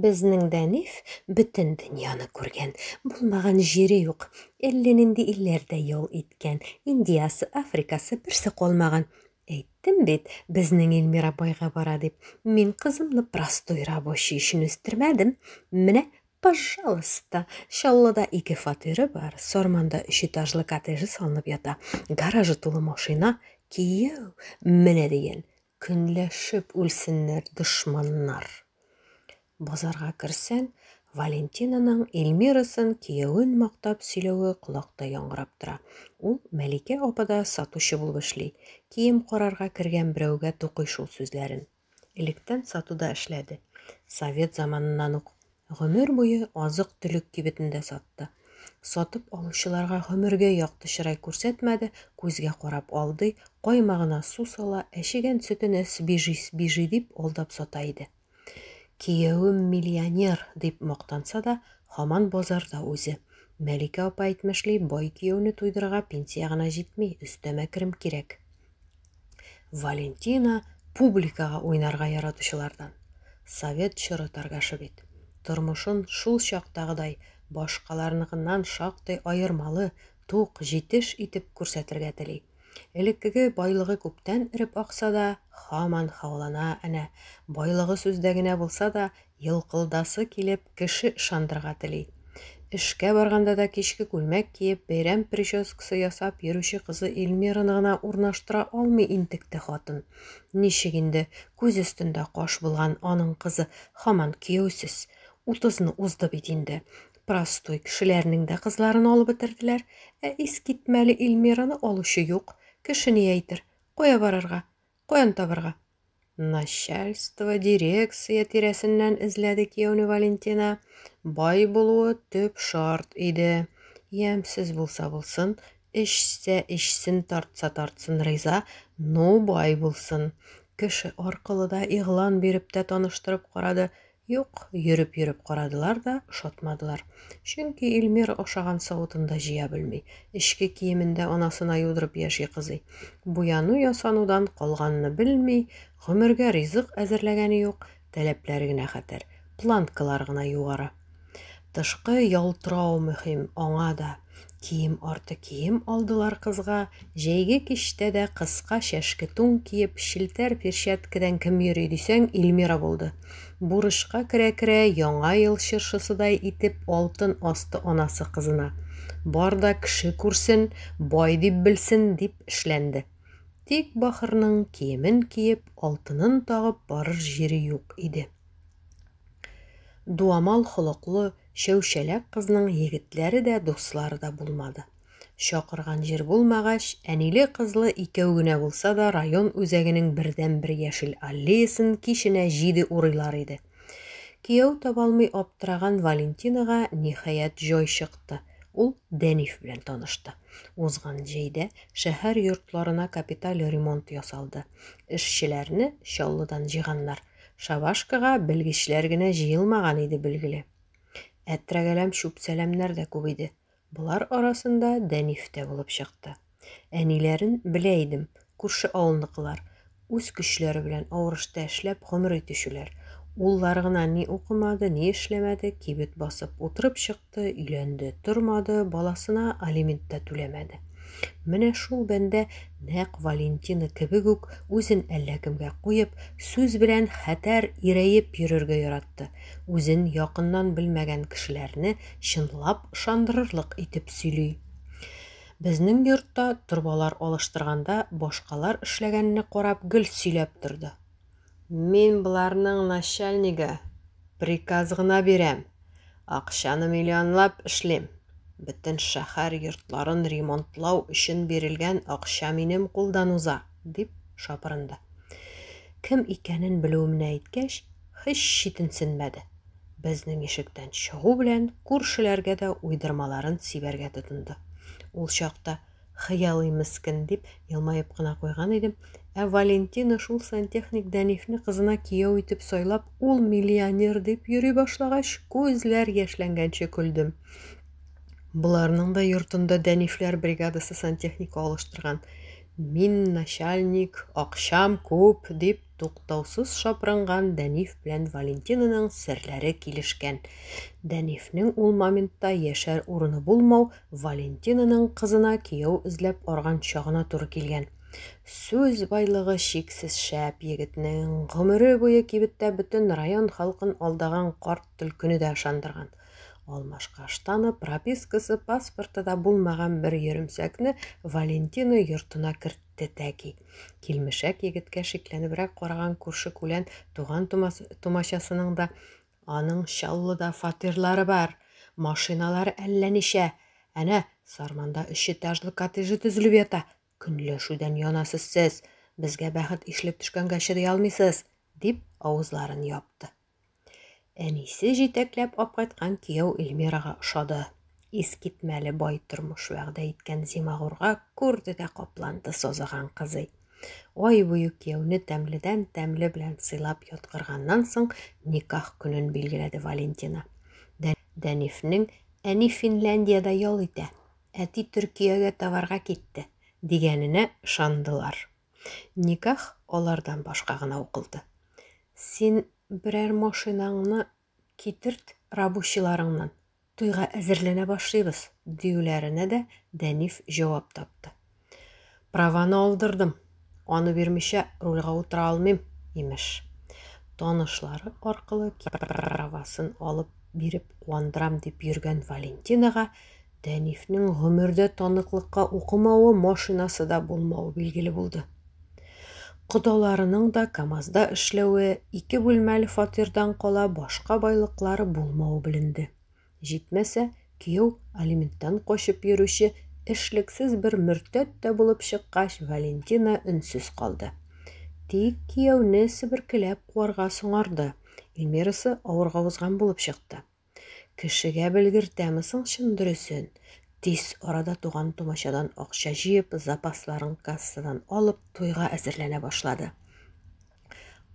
Безнең Дәниф бөтен дөньяны күргән, булмаган җире юк. Әллә нинди илләрдә ял иткән, Индиясы, Африкасы, берсе калмаган. Әйттем бит, безнең Эльмира байга бара дип. Мин кызымны простой рабочий өчен үстермәдем. Менә Пожалуйста, Чаллыда ике фатиры бар, Сарманда өч этажлы коттеджы салынып ята, гаражы тулы машина, кияү, менә дигән. Көнләшеп үлсеннәр дошманнар. Базарга керсәң, Валентинаның Эльмирасын киявен мактап сөйләве колакта яңгырап тора. Ул Мәликә апада сатучы булып эшли. Кием карарга кергән берәүгә тукый шул сүзләрен. Электән сатуда эшләде. Совет заманыннан ук Гомер буе азык-төлек кибетендә сатты. Сатып алучыларга гомергә якты чырай күрсәтмәде, күзгә карап алдый, каймагына су сала, әчегән сөтенә свежий, свежий дип алдап сата иде. Киявем миллионер, дип мактанса да, һаман базарда үзе. Мәликә апа әйтмешли, бай кияүне туйдырырга пенсия гына җитми, өстәмә керем кирәк. Валентина публикага уйнарга яратучылардан. Совет чоры торгашы бит. Тормышын шул чактагыдай башкаларныкыннан шактый аермалы, тук, җитеш итеп күрсәтергә тели. Элеккеге байлыгы күптән эреп акса да, хаман хаулана әнә. Байлыгы сүздә генә булса да, Елкылдасы килеп, кеше ышандырырга тели. Эшкә барганда да кичке күлмәк киеп, бәйрәм прическасы ясап йөрүче кызы Эльмираны гына урнаштыра алмый интекте хатын. Ничек инде, күз өстендә каш булган аның кызы һаман кияүсез. Утызны узды бит инде. Простой кешеләрнең дә кызларын алып бетерделәр. Ә искитмәле Эльмираны алучы юк. Кеше ни әйтер? Кая барырга? Каян табырга? Начальство, дирекция тирәсеннән эзләде кияүне Валентина. Бай булуы төп шарт иде. Ямьсез булса булсын, эчсә эчсен, тартса тартсын риза, ну бай булсын. Кеше аркылы да, игълан биреп тә таныштырып карады, Юк, йөреп-йөреп карадылар да, ошатмадылар. Чөнки Илмир ашаган савытын да җыя белми. Эчке киемен дә анасына юдырып яши кызый. Буяну-ясанудан калганны белми, гомергә ризык әзерләгәне юк, таләпләре генә хәтәр, планкалары гына югары. Тышкы ялтырау мөһим аңа да. Кием арты кием алдылар кызга, җәйге кичтә дә кыска чәшке тун киеп, челтәр перчаткадан кем йөри дисәң, Ильмира булды. Бурычка керә-керә, Яңа ел чыршысыдай итеп алтын асты анасы кызына. Бар да кеше күрсен, бай дип белсен, дип эшләнде. Тик Бахырның киемен киеп, алтынын тагып барыр җире юк иде. Дуамал холыклы, Чәүчәләк кызның егетләре дә, дуслары да булмады. Чакырган җир булмагач, әниле-кызлы икәү генә булса да район үзәгенең бердәнбер яшел аллеясын киченә җиде урыйлар иде. Кияү табалмый аптыраган Валентинага, ниһаять, җай чыкты, ул Дәниф белән танышты. Узган җәйдә шәһәр йортларына капиталь ремонт ясалды. Эшчеләрне Чаллыдан җыйганнар. Шабашкага белгечләр генә җыелмаган иде, билгеле. Ә трәгәләм чүп-чәләмнәр дә күп иде. Болар арасында Дәниф тә булып чыкты. Әниләрен белә идем, күрше авылныкылар, үз көчләре белән авырышта эшләп гомер итүчеләр. Уллары гына ни укымады, ни эшләмәде, кибет басып утырып чыкты. чыкты, өйләнде, тормады, баласына алимент та түләмәде. Менә шул бәндә нәкъ Валентина кебек үк үзен әллә кемгә куеп, сүз белән хәтәр ирәеп йөрергә яратты. Үзен якыннан белмәгән кешеләрне чынлап ышандырырлык итеп сөйли. Безнең йортта торбалар алыштырганда башкалар эшләгәнне карап гел сөйләп торды. Мин боларның начальнигы, приказ гына бирәм, акчаны миллионлап эшлим. Бөтен шәһәр йортларын ремонтлау өчен бирелгән акча минем кулдан уза, дип шапырынды. Кем икәнен белүемне әйткәч, һич читенсенмәде. Безнең ишектән чыгу белән күршеләргә дә уйдырмаларын сибәргә тотынды. Ул чакта Хыялый мескен, дип, елмаеп кына куйган идем. Ә Валентина шул сантехник Дәнифне кызына кияү итеп сайлап, ул миллионер дип йөри башлагач, күзләр яшьләнгәнче көлдем. Боларның да йортында Дәнифләр бригадасы сантехника алыштырган. Мин начальник, акчам күп, дип, Туктаусыз шапранган Дәниф белән Валентинаның серләре килешкән. Дәнифнең ул моментта яшәр урыны булмау Валентинаның кызына кияү эзләп арган чагына туры килгән. Сүз байлыгы чиксез шәп егетнең, гомере буе кибеттә бөтен район халкын алдаган карт төлкене дә ышандырган. Алмашкаштаны, пропискасы, паспорты да булмаган бер йөремсәкне Валентина йортына кертте. Тәтәки. Килмешәк егеткә шикләнебрәк караган күрше-күлән туган тумачасының да, Аның Чаллыда фатирлары бар, машиналары әллә ничә, әнә, Сарманда өчэтажлы коттеджы төзелеп ята, көнләшүдән янасыз сез, безгә бәхет ишелеп төшкәнгә чыдый алмыйсыз, дип авызларын япты. Әнисе җитәкләп апкайткан кияү Эльмирага ошады. Искитмәле бай тормыш вәгъдә иткән Зимагурга күрде дә капланды созыган кызый. Ай буе кияүне тәмледән тәмле белән сыйлап яткырганнан соң никах көнен билгеләде Валентина. Дәнифнең әни Финляндиядә ял итә, әти Төркиягә товарга китте, дигәненә ышандылар. Никах алардан башка гына укылды. Син берәр машинаңны китерт рабочийларыңнан, туйга әзерләнә башлыйбыз, диюләренә дә Дәниф җавап тапты. Праваны алдырдым, аны бирмичә рульга утыра алмыйм, имеш. Танышлары аркылы правасын алып биреп куандырам дип йөргән Валентинага Тәнифнең гомердә таныклыкка укымавы, машинасы да булмавы билгеле булды. Кодаларының да КАМАЗда эшләве, ике бүлмәле фатирдан кала башка байлыклары булмавы беленде. Җитмәсә, кияү алименттан качып йөрүче эшлексез бер мөртәт тә булып чыккач, Валентина өнсез калды. Тик кияүне себеркеләп куарга соңарды. Эльмирасы авырга узган булып чыкты. Кешегә белгертәме соң чын дөресен? Тиз арада туган-тумачадан акча җыеп, запасларын кассадан алып, туйга әзерләнә башлады.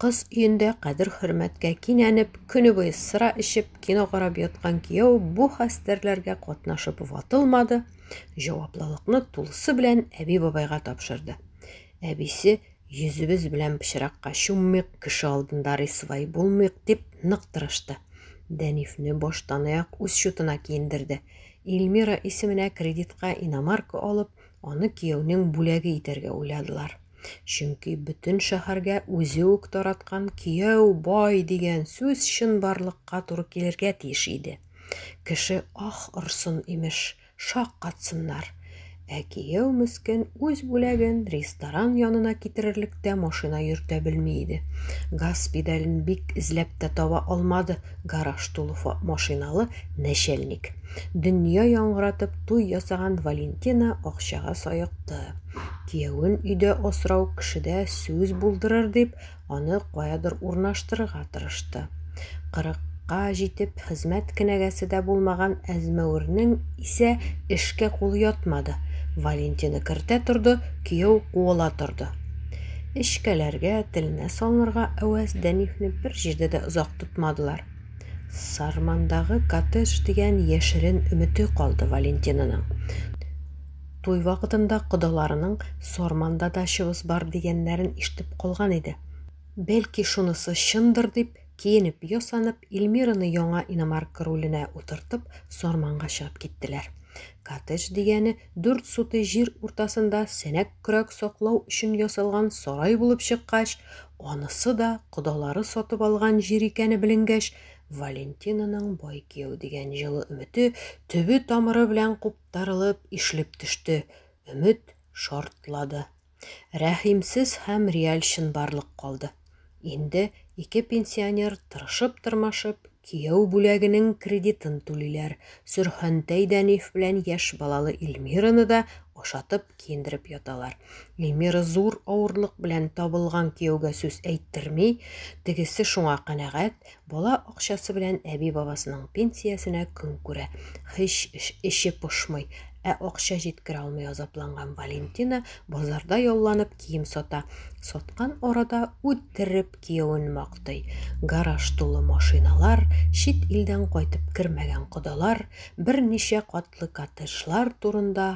Кыз өендә кадер-хөрмәткә кинәнеп, көне буе сыра эчеп, кино карап яткан кияү бу хәстәрләргә катнашып ватылмады, җаваплылыкны тулысы белән әби-бабайга тапшырды. Әбисе Йөзебез белән пычракка чуммыйк, кеше алдында рисвай булмыйк, дип нык тырышты. Дәнифне баштанаяк үз чутына киендерде. Ильмира исеменә кредитка иномарка алып, аны кияүнең бүләге итәргә уйладылар. Чөнки бөтен шәһәргә үзе үк тараткан кияү бай дигән сүз чынбарлыкка туры килергә тиеш иде. Кеше ах орсын, имеш. Шаккатсыннар. Ә кияү мескен үз бүләген ресторан янына китерерлек тә машина йөртә белми иде. Газ педален бик эзләп тә таба алмады гараж тулы машиналы нәчәлник. Дөнья яңгыратып туй ясаган Валентина акчага саекты. Кияүен өйдә асрау кешедә сүз булдырыр дип, аны каядыр урнаштырырга тырышты. Кырыкка җитеп, хезмәт кенәгәсе дә булмаган Әзмәвернең исә эшкә кулы ятмады. Валентины кертә торды, кияү куыла торды. Эчкәләргә, теленә салынырга әвәс Дәнифне бер җирдә дә озак тотмадылар. Сармандагы коттедж дигән яшерен өмете калды Валентинаның. Туй вакытында кодаларының Сарманда дачабыз бар дигәннәрен ишетеп калган иде. Бәлки шунысы чындыр дип, киенеп-ясанып, Ильмираны яңа иномарка руленә утыртып, Сарманга чыгып киттеләр. Коттедж дигәне дүрт сутый җир уртасында сәнәк көрәк саклау өчен ясалган сарай булып чыккач, анысы да кодалары сатып алган җир икәне беленгәч, Валентинаның бай кияү дигән җылы өмете төбе-тамыры белән куп тарылып, ишелеп төште, өмет шартлады. Рәхимсез һәм реаль чынбарлык калды. Инде ике пенсионер тырышып-тырмашып кияү бүләгенең кредитын түлиләр, Сөрхәнтәй Дәниф белән яшь балалы Ильмираны да ашатып киендереп яталар. Ильмира зур авырлык белән табылган кияүгә сүз әйттерми, тегесе шуңа канәгать, Бала акчасы белән әби-бабасының пенсиясенә көн күрә. Һич эче пошмый. Ә акча җиткерә алмый азапланган Валентина базарда ялланып кием сата. Саткан арада үтереп киявен мактый. Гараж тулы машиналар, чит илдән кайтып кермәгән кодалар, берничә катлы коттеджлар турында